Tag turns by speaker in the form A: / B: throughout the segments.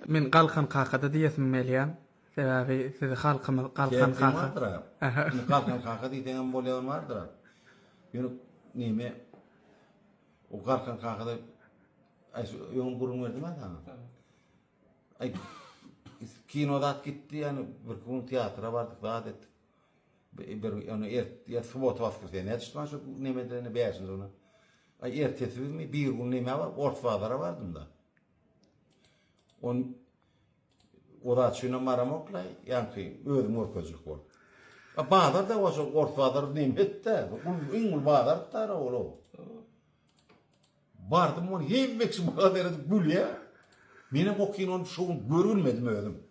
A: Men Galkan kakada diýesim gelýär. Sebäbi sizi halkymyz Galkan kaka. Sebäbim bardyra. Indi
B: Galkan kaka diýseňem bolýan bardyra. Ýöne neme o Galkan kakada aý şu öňem gürrüň berdim-ä saňa. Aý kino zat gitdi ýani bir gün teatra bardyk zat etdik. Bir ýöne er ýa subota waskrsenýä düşdi maňa şu nemede indi bäşinji güni. Aý ertesi günmi bir gün neme bar ors bazara bardym-da. On Ozat şuna maramoklaý, ýaňky özüň görkezjek bol. A bazar da oşo ors bazary näme etdi? Gul iň gul bazar tara ol. Bardym on hemme kişi maňa deredi gülýä. Men hem o kinony şu gün görülmedim özüm.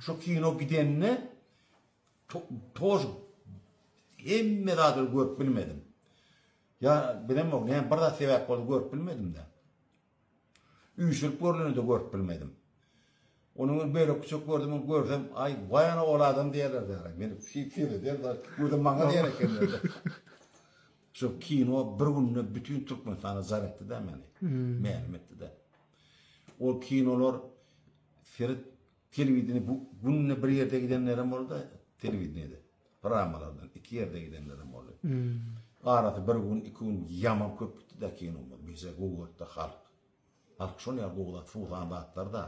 B: Şu kino gidende toz hemme zady görüp bilmedim. Ya bilem o, ne bir zat sebäp boldy görüp bilmedim de. Üýşürip görleni-de görüp bilmedim. Onuň bir bölekçejik gördüm, ony görsem, Aý, waý ana ol adam diýerlerdi ýaly. Men şeýdip seredýärin, özem maňa diýer ekenler-de. Şu kino bir günde bütin Türkmenistana jar etdi-de meni. Mälim etdi-de. Ol kinolar seret Telewideniýe bu günde bir ýerde gidenlerem boldy, telewideniýede pramalardan iki ýerde gidenlerem boldy. Arasy bir gün, iki gün ýaman köp gitdi-de kino bolmady. Bize gowy gördi-de halk. Halk şol ýaly gowy zat, suwsan zatlar-da.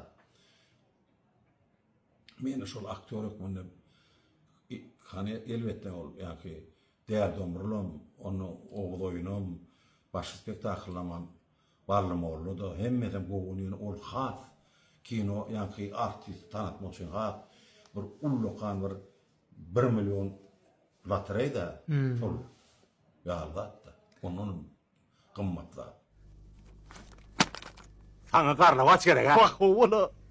B: Meni şol aktýor hökmünde i- hany elbetde ol ýaňky Däli domrulam, onda Oguz oýunam, başy spektaklylamam Bally mollada hemmesem gowy ýöne ol has kino ýaňky artisti tanatmak üçin has bir ullakan bir bir million lotoreýda pul ýaly zatda ondan gymmat zat.
C: Saňa garlawaç gerek-ä. Wah, ho-wala!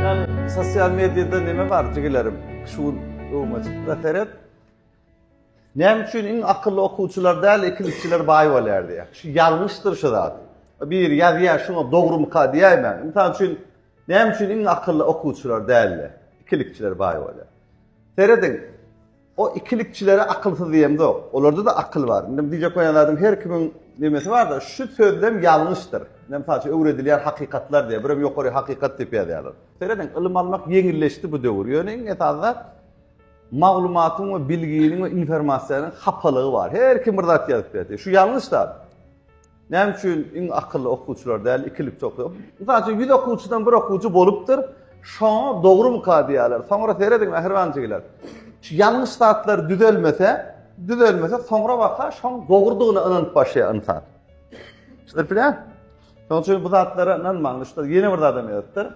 D: Ýani sosial mediýada näme bar jigilerim? Şu gün öwme çykda seret. Näme üçin iň akylly okuwçylar däl, ikinjiler baý bolýar diýýär. Şu ýalňyşdyr şu zat. Biri ýazýar, şuňa dogrumyka diýäýmän. Mysal üçin, näme üçin iň akylly okuwçylar däl-de, ikilikçiler baý bolýar? Serediň. O ikilikçilere akylsyz diýemzok. Olarda-da akyl bar. Indi diýjek bolýan zadym her kimiň nemesi bar-da, şu sözlem ýalňyşdyr. Ine, mysal üçin, öwredilýän hakykatlar diýýär. Birem ýokary hakykat diýip ýazýarlar. Serediň, ylym almak ýeňilleşdi bu döwür. Ýöne iň esasy zat, maglumatyň we bilginiň we informasiýanyň hapalygy bar. Her kim bir zat ýazyp berdi. Şu ýalňyş zat. Näme üçin iň akylly okuwçylar däl ikilikçi okuýar? Mysal üçin ýüz okuwçydan bir okuwçy bolupdyr, şoňa dogrumyka diýýärler. Soňra serediň mähriban jigiler. Şu ýalňyş zatlar düzelmese, düzelmese soňra waka şoň dogrudygyna ynanyp başlaýar ynsan. Şuny bilýän? Şoň üçin bu zatlara ynanmaň. Ýene bir zadam ýazypdyr.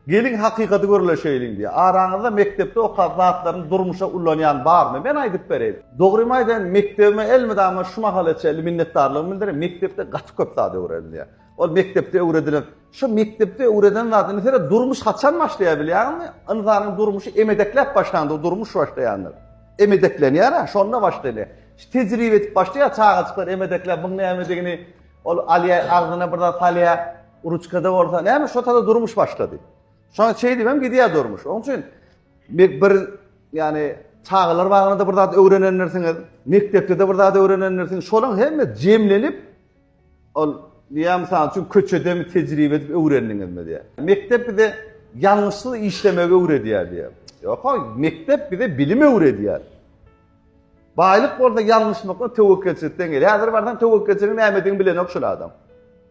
D: Geliň hakykaty gürleşeýliň diýýär. Araňyzda mekdepde okan zatlaryny durmuşa ulanýan barmy? Men aýdyp bereýin. Dogrymy aýdaýyn, mekdebime elmydama şu mahala çenli minnetdarlygymy bildireýin. Mekdepde gaty köp zat öwrenilýär. Ol mekdepde öwredilen, şu mekdepde öwreden zat, indi seýre durmuş haçan başlaýar bilýäňmi? Ynsanyň durmuşy emedekläp başlandyr durmuş başlaýandyr. Emedeklenýär-ä, şonda başlanýar. Şu tejribe edip başlaýar çagajyklar emedekläp muň nämedigini, Ol alýa, agzyna bir zat salýa, ruçkada bolsa, näme şo tada durmuş başlady. Şoňa çeý diýmem gidýä durmuş. Oň üçin bir, bir ýani çagalar bagynda bir zat öwrenendirsiňiz, mekdepde de bir zat öwrenendirsiňiz. Şolaň hemme jemlenip ol diýä mysal üçin köçede mi tejribe edip öwrendiňizmi diýä. Mekdep bize ýalňyşsyz işlemegi öwredýär diýä. Ýok, mekdep bize bilim öwredýär. Baýlyk bolsa ýalňyşmakdan töwekgelçilikden gelýär. Häzir barsaň töwekgelçiligiň nämedigini bilenok şol adam.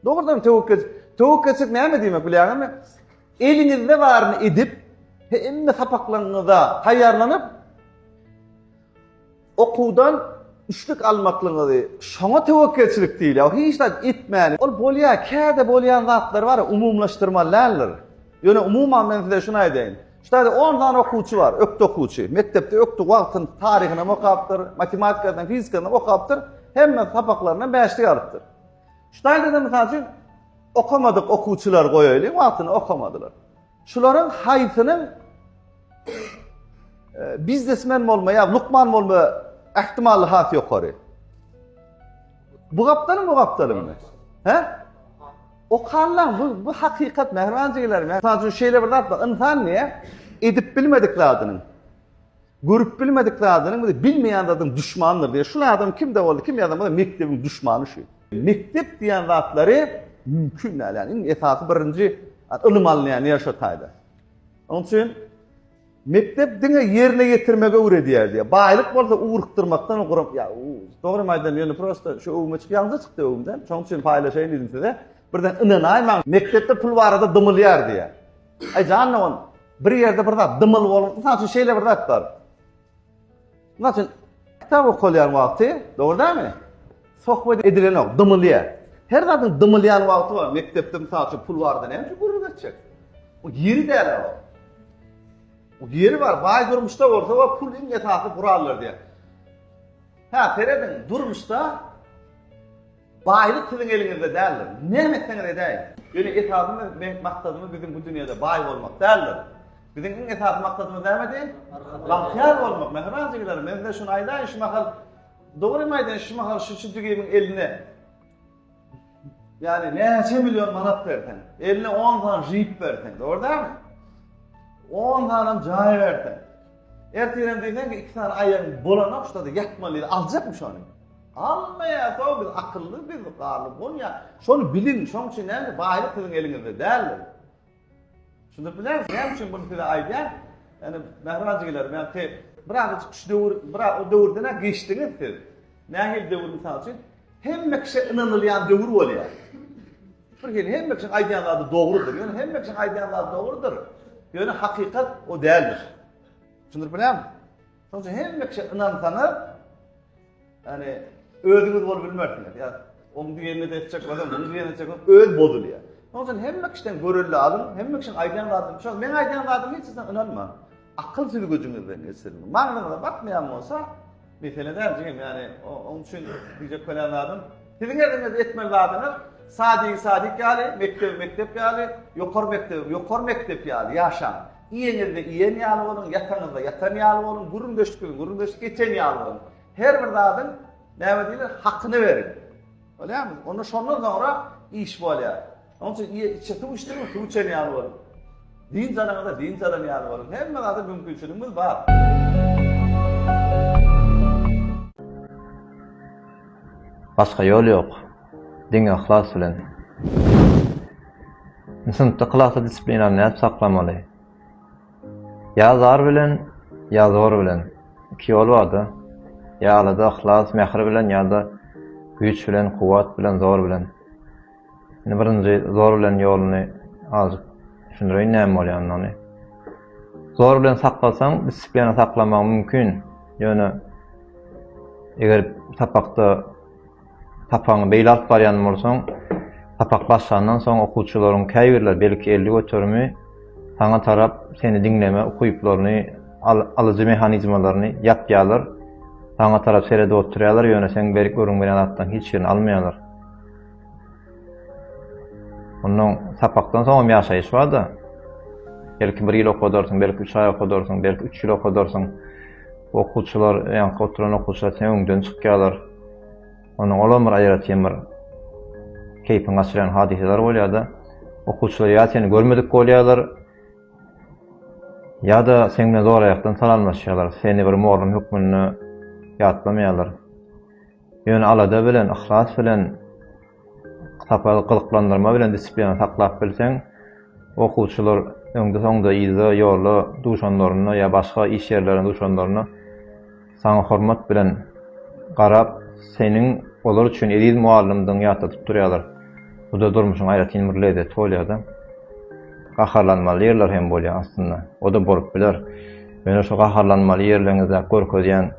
D: Dogrudan töwekkel töwekgelçilik näme diýmek bilýäňizmi? Eliňizde baryny edip, hemme sapaklaryňyza taýýarlanyp, okuwdan üçlük almaklygyňyzy, şoňa töwekgelçilik diýilýär. Hiç zat etmän, ol bolýar, käte bolýan zatlar bar, umumylaşdyrmaly däldir. Ýöne umuman men size şuny aýdaýyn. Ştaýda on sany okuwçy bar, ökde okuwçy. Mekdepde ökde wagtyny, taryhyny hem okapdyr, matematikadan hem, fizikadan hem okapdyr. Hemme sapaklaryndan bäşlik alypdyr. Ştaýda-da mysal üçin okamadyk okuwçylar goýaýlyň, wagtyny okamadylar. Şularyň haýsynyň e, biznesmen bolma ýa lukman bolma ähtimallygy has ýokary? Bu gapdalyň bu gapdalyňmy? He? Okanlar bu bu hakikat Mehran jigler. Men sadece şeýle bir zat insan niye edip bilmedik zadynyň görüp bilmedik zadynyň bizi bilmeýän zadyň düşmandyr diye. Şu adam kimde boldy? Kim ýazan bolsa mekdebiň düşmany şu. Mekdep diýen zatlary mümkin däl. Yani iň esasy birinji ylym alynýan ýer şu taýda. Onun için Mekdep diňe ýerine ýetirmegi öwredýär diýýär. Baýlyk bolsa ugrukdyrmakdan ugruk. Ýa, dogrymy aýdýan, ýöne prosta şu öwüme çyk, ýalňyza çykdy öwümden. Şonuň üçin paýlaşaýyn diýdim size. Birden ynanaýmaň, mekdepde pul barada dymylýar diýýär. Aý janna ol, bir ýerde bir zat dymyl bolupdyr, saň üçin şeýle bir zat bar. Mysal üçin, kitap okalýan wagty, dogry dälmi? Sohbet edilenok, dymylýar. Her zadyň dymylýan wagty bar. Mekdepde mysal üçin pul barada näme üçin gürrüň etjek? Bu ýeri däl o. Bu ýeri bar. Baý durmuşda bolsa we pul iň esasy gurallar diýär. Ha, serediň, durmuşda Baýlyk siziň eliňizde däldir. Näme etseňiz edäýiň. Ýöne esasymyz we maksadymyz biziň bu dünýäde baý bolmak däldir. Biziň iň esasy maksadymyz nämedi? Bagtyýar bolmak. Mähriban jigelerim, men size şuny aýdaýyn, şu mahal dogrymy aýdaýyn, şu mahal şu çüjügimiň eline ýagny näçe million manat berseň, eline on sany žip berseň, dogry dälmi? On sanam jaý berseň. Ertirem diýseň, iki sany aýagyň bolanok, şurada ýatmaly, aljakmy şony? Almaýar soň biz akylly biz garly bolýa şony biliň şoň üçin näme baýlyk siziň eliňizde däldir. Düşündirip bilersiň näme üçin bunu size aýdýan ýani mähriban jigilerim ýani siz biraz şu döwür biraz o döwürden geçdiňiz siz nähili döwür mysal üçin hemme kişä ynanylýan döwür bolýar. Bir hili hemme kişiň aýdýan zady dogrudyr ýöne hemme kişiň aýdýan zady dogrudyr ýöne hakykat o däldir. Düşündirip bilermi? Şoň üçin hemme kişä ynansaňyz, ýani özüňiz bolup bilmersiňiz. Ýa oň diýenini de etjek bolsaň, muny diýenini etjek bolsaň, öz bozulýar. Şoň üçin hemme kişiden görelde alyň, hemme kişiň aýdýan zadyny düşüniň. Men aýdýan zadyma hiç zat ynanmaň. Akyl süzgüjiňizden geçiriň. Magnyňyza batmaýan bolsa, mesele däl jigim, ýani oň üçin diýjek bolýan zadym, siziň eliňizde etmeli zadyňyz sadigiň sadik ýaly, mekdebiň mekdep ýaly, ýokary mekdebiň ýokary mekdep ýaly ýaşaň. Iýeňizde iýen ýaly boluň, ýataňyzda ýatan ýaly boluň, gürrüňdeşikde gürrüňdeşik geçen ýaly boluň. Her bir zadyň, näme diýler, hakyny beriň. Bolýarmy? Onda şondan soňra iş bolýar. Onuň üçin iýe-içe suw içdiňmi, suw içen ýaly boluň. Dynç alaňyzda dynç alan ýaly boluň. Hemme zada mümkinçiligimiz bar.
E: Başga ýol ýok. Diňe yhlas bilen. Indi synpda klasda disiplinany nädip saklamaly? Ýa zar bilen, ýa zor bilen. Iki ýol bar-da. Ýa alada, yhlas, mähir bilen, ýa-da güýç bilen, kuwwat bilen, zor bilen. Indi birinji zor bilen ýoluny azajyk düşündireýin näme bolýandygyny. Zor bilen saklasaň, disiplina saklamagyň mümkin. Ýöne eger sapakda Sapagyňy beýle alyp barýan bolsaň, sapak başlandan soň okuwçylaryň käbirleri, belki elli göterimi saňa tarap seni diňleme ukyplaryny, alyjy mehanizmalaryny ýapýarlar, saňa tarap seredip oturýarlar, ýöne seň berip gürrüň berýän zatlaryň hiç birini almaýarlar. Ondan sapakdan soňam ýaşaýyş bar-da. Belki bir ýyl okadarsyň, belki üç aý okadarsyň, belki üç ýyl okadarsyň. Okuwçylar, ýaňky oturan okuwçylar siňe öňden çykýarlar. Onuň olam bir aýratyn bir keýpiň gaçyrýan hadysalary bolýar-da. Okuwçylar ýa seni görmedik bolýarlar, ýa-da seň bilen zor-aýakdan salamlaşýarlar, seni bir mugallym hökmünde ýatlamaýarlar. Ýöne alada bilen, yhlas bilen. Sapagy gyzyklandyrma bilen disiplina saklap bilseň, okuwçylar öňde-soňda, yzda, ýolda duşanlarynda ýa başga iş ýerlerinde duşanlarynda saňa hormat bilen garap, seniň olar üçin eziz mugallymdygyňy ýatladyp durýarlar. Bu-da durmuşyň aýratyn bir lezzeti bolýar-da. Gaharlanmaly ýerler hem bolýar aslynda. O-da bolup biler. Ýöne şu gaharlanmaly ýerleriňizde görkezýän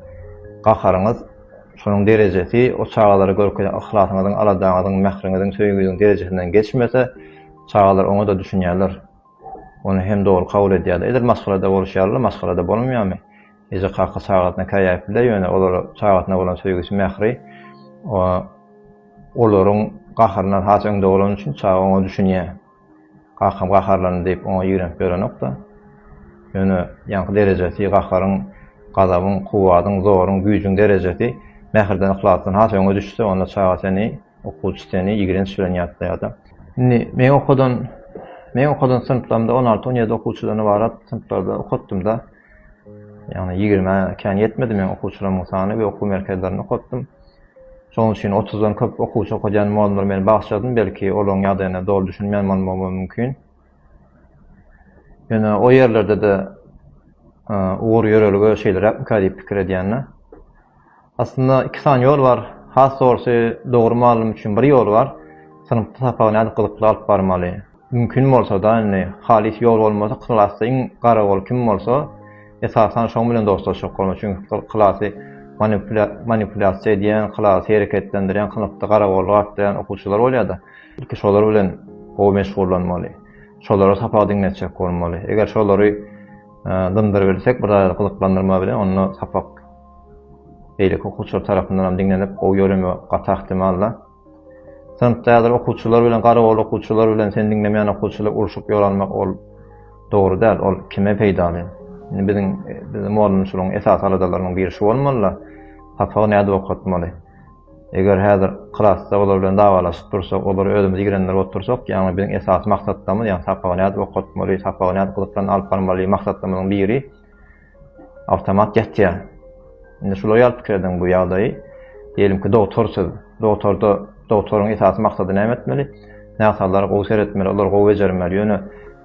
E: gaharyňyz Şonuň derejesi o çagalara görkezen yhlasyňyzyň, aladaňyzyň, mähriňiziň, söýgiňiziň derejesinden geçmese, çagalar oňa-da düşünýärler. Ony hem dogry kabul edýärler. Edil maşgalada bolşy ýaly-la, maşgalada bolanmaýarmy? Eje-kaka çagasyna käýäp biler, ýöne olar çagasyna bolan söýgüsi, mähri olaryň gaharyndan has öňde bolany üçin çaga oňa düşünýär. Kakam gaharlandy diýip, oňa ýigrenip ýörenok-da. Ýöne ýaňky derejesi, gaharyň, gazabyň, kuwwadyň, zoruň, güýjüň derejesi mähirden, yhlasdan has öňe düşse, onda çaga seni, okuwçy seni ýigrenç bilen ýatlaýar-da. Indi meň okadan, meň okadan synplarymda on alty, on ýedi okuwçydan ybarat synplarda okatdym-da. Ýagny ýigrimä kän ýetmedi meň okuwçylarymyň sany we okuw merkezlerinde okatdym. Şonuň üçin otuzdan köp okuwçy okadýan mugallymlar meni bagyşladym, belki, olaryň ýagdaýyna doly düşünmän bolmagym mümkin. Ýöne o ýerlerde-de ugur-ýörelge şeýleräkmikä diýip pikir edýän-de. Aslynda iki sany ýol bar. Has dogrusy, dogry mugallym üçin bir ýol bar, synpda sapagy nädip gyzykly alyp barmaly. Mümkin bolsada indi halys ýol bolmasa klasda iň gara bol kim bolsa esasan şoň bilen dostlaşjak bolmaly çünki klasy manipulýasiýa edýän klasy hereketlendirýän kynykdy garagoly gaplaýan okuwçylar bolýada ilki şolar bilen gowy meşgullanmaly şolara sapak diňletjek bolmaly eger şolary dyndyrybilsek bir zada gyzyklandyrma bilen onda sapak beýleki okuwçylar tarapyndanam diňlenip gowy ýöremegi gaty ahtimalla. Synpda häzir okuwçylar bilen garagol okuwçylar bilen seni diňlemeýän okuwçylar urşup ýoralmak ol dogry däl, ol kime peýdaly? Indi biziň biziň mugallymçylygyň esasy aladalarynyň biri şu bolmaly-da, sapagy nädip okatmaly? Eger häzir klasda olar bilen dawalaşyp dursak, olary özümiz ýigrenler bolup dursak, ýagny biziň esasy maksatlarymyz, ýagny sapagy nädip okatmaly, sapagy nädip gyzykly alyp barmaly maksatlarymyzyň biri, Awtomat ýatýar. Indi şular ýaly pikir ediň bu ýagdaýy. Diýelim ki, dogtor siz. Dogtorda, dogtoryň esasy maksady näme etmeli? Näsaglara gowy seretmeli, olary gowy bejermeli. Ýöne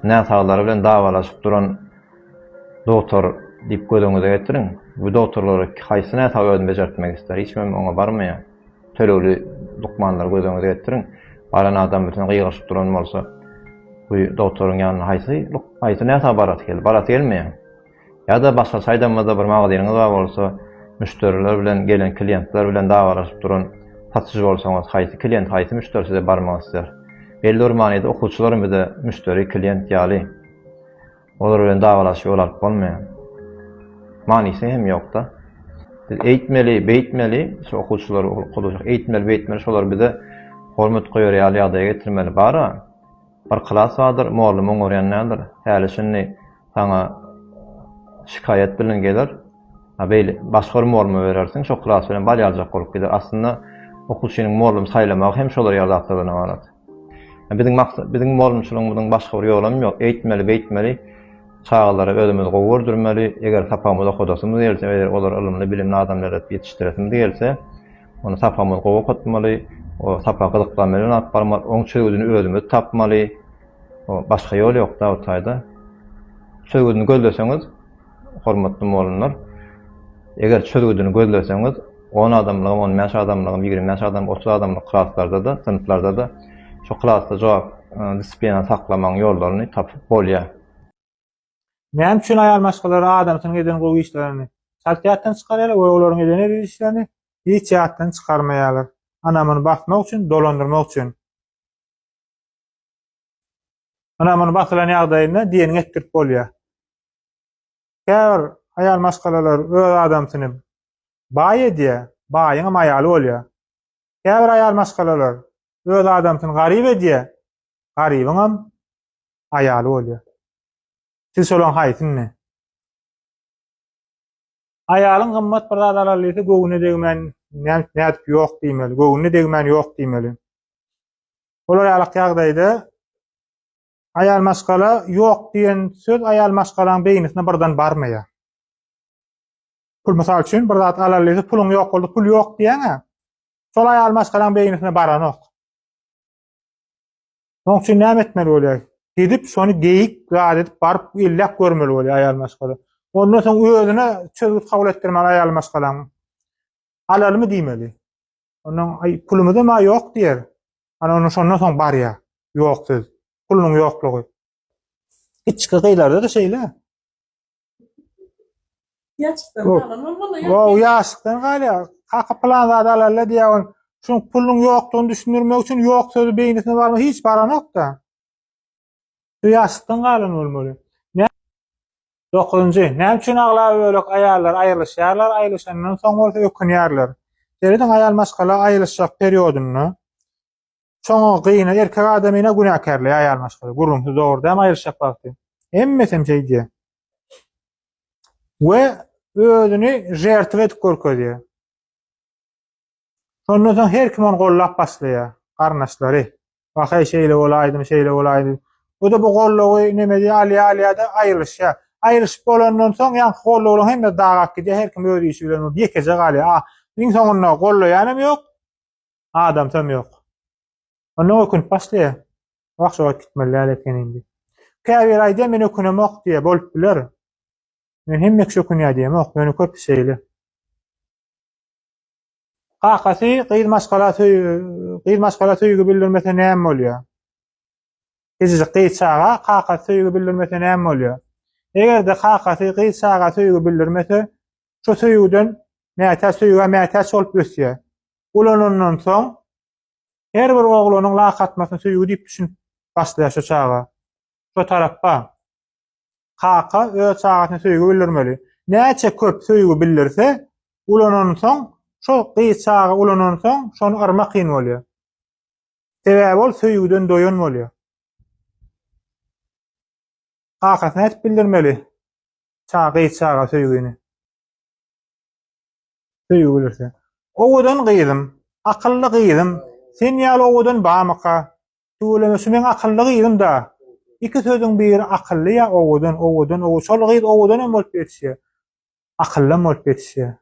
E: näsaglary bilen dawalaşyp duran dogtor diýip göz öňüňize getiriň. Bu dogtorlar haýsy näsagy özüni bejertmek isler? Hiç kimem oňa barmaýar. Tölegli lukmanlary göz öňüňize getiriň. Baran adam bütin gygyryşyp duran bolsa, bu dogtoryň ýanyna haýsy haýsy näsag barasy geldi? Barasy gelmeýär. Ýa-da başga çaýdanmada bir magazynyňyz bar bolsa, müşderiler bilen, gelen kliýentler bilen dawalaşyp duran satyjy bolsaňyz, haýsy kliýent, haýsy müşderi size barmak isler? Belli bir manyda okuwçylaram bize müşderi, kliýent ýaly. Olar bilen dawalaşyp ýol alyp bolmaýar. Manysy hem ýokda. Biz eýtmeli, beýtmeli, şu okuwçylary okadajak, eýtmeli, beýtmeli, şolar bize hormat goýar ýaly ýagdaýa getirmeli. Bar-a, bir klas bardyr, mugallym oňarýan däldir. Häli-şindi saňa şikaýat bilen geler. A beýle, başga bir mugallyma berersiň, şo klas bilen bal ýaljak bolup gider. Aslynda, okuwçynyň mugallym saýlamagy hem şolar ýaly zatlardan ybarat. Biziň maksat, biziň mugallymçylygymyzyň başga bir ýolam ýok. Eýtmeli, beýtmeli, çagalary özümiz gowy gördürmeli. Eger sapagymyzy okadasymyz gelse, eger olary ylymly, bilimli adamlar edip ýetişdiresimiz gelse, onda sapagymyzy gowy okatmaly, o sapagy gyzyklanma bilen alyp barmaly, oň çözgüdini özümiz tapmaly. Başga ýol ýok-da bu taýda. Çözgüdini gözleseňiz, Hormatly mugallymlar, eger çözgüdini gözleseňiz, on adamlygam, on bäş adamlygam, ýigrimi bäş adam, otuz adamlyk klaslarda-da, synplarda-da şo klasda jogap disiplinany saklamagyň ýollaryny tapyp bolýar.
F: Näme üçin aýal maşgalara adamsynyň eden gowy işlerini çalt ýatdan çykarýarlar we olaryň eden eziz işlerini hiç ýatdan çykarmaýarlar? Ynamyny basmak üçin, dolandyrmak üçin. Ynamyny basylan ýagdaýynda diýeniňi etdirip bolýar. Käbir aýal maşgalalar öz adamsyny baý edýär, baýyňam aýaly bolýar. Käbir aýal maşgalalar öz adamsyny garyp edýär, garybyňam aýaly bolýar. Siz şolaň haýsyny? Aýalyň gymmat bir zat alaly diýse, göwnüne degmän, nädip ýok diýmeli, göwnüne degmän ýok diýmeli. Olar ýaly ýagdaýda Aýal maşgala ýok diýen söz aýal maşgalaň beýnisine birden barmaýar. Pul mysal üçin bir zat alaly diýse puluň ýok boldy pul ýok diýäňä şol aýal maşgalaň beýnisine baranok. Şoň üçin näme etmeli bolýar? Gidip şony geýik zat edip baryp elläp görmeli bolýar aýal maşgala. Ondan soň özüne çözgüt kabul etdirmeli aýal maşgalaň. Alalymy diýmeli. Ondan ay pulumuz hem yok diýer. Ana onu şondan soň barýar. Ýok söz. Pulunyň ýoklugy. Içki gyýlarda da şeýle. Ýaşdan
G: galan bolmaly.
F: Wo, ýaşdan
G: galýar.
F: Kaka plan zat alalla diýär on. Şuň pulunyň ýokdugyny düşündirmek üçin ýok sözi beýnisine barma hiç baranok da. Şu ýaşykdan galan bolmaly. Nä? Dokuzynjy, Näme üçin aglabölek aýallar aýrylyşýarlar, aýrylyşandan soň bolsa ökünýärler? Serediň, aýal maşgala aýrylyşjak periodynda çoňa gyna, erkek adamyna günäkärleýär aýal maşgala. Gürrüňsiz dogry dämi aýrylyşjak wagty? Hemmesem şeý diýýär. We özüni žertwa edip görkezýär. Şondan soň her kim ony gollap başlaýar, garyndaşlary. Wahey şeýle bolaýdym, şeýle bolaýdym. Bu-da bu gollawy neme diýýär, alýar, alýar-da aýrylyşýar. Aýrylyşyp bolandan soň ýaňky gollawlaryň hemmesi dagap gidýär, her kim öz işi bilen bolup ýekeje galýar. A, iň soňunda gollaýanam ýok, adamsam ýok. Ondan ökünip başlaýar. Wah, şu wagt gitmeli däl eken indi. Käbiri aýdýar, men ökünemok diýýär, bolup biler. Men hemme kişi ökünýär diýemok, ýöne köpi şeýle. Kakasy gyz maşgala gyz maşgala söýgi bildirmese näme bolýar? Kiçijik gyz çaga kakasy söýgi bildirmese näme bolýar? Eger-de kakasy gyz çaga söýgi bildirmese, şu söýgüden mätäç söýgä mätäç bolup ösýär. Ulanandan soň her bir oglanyň lak atmasyny söýgi diýip düşünip başlaýar şu çaga. Şu tarapba. Kaka öz çagasyna söýgi bildirmeli. Näçe köp söýgi bildirse, ulanansoň, şo gyz çaga ulanansoň, şony yrmak kyn bolýar. Sebäbi ol söýgüden doýan bolýar. Kakasyna aýdyp bildirmeli. Çaga gyz çaga söýgini. Söýgi bildirse. Owadan gyzym, akylly gyzym, sen ýaly owadan bamyka? Tüweleme şu meň akylly gyzym-da. Iki sözüň biri akylly ýa owadan, owadan, ow, şol gyz owadanam bolup ýetişýär. Akyllam bolup ýetişýär.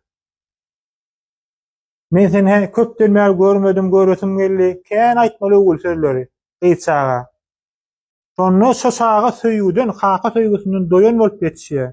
F: Men seni hä köpden bäri görmedim, göresim geldi. Kän aýtmaly öwül sözleri gyz çaga. Şonda şu çaga söýgüden, kaka söýgüsinden doýan bolup ýetişýär.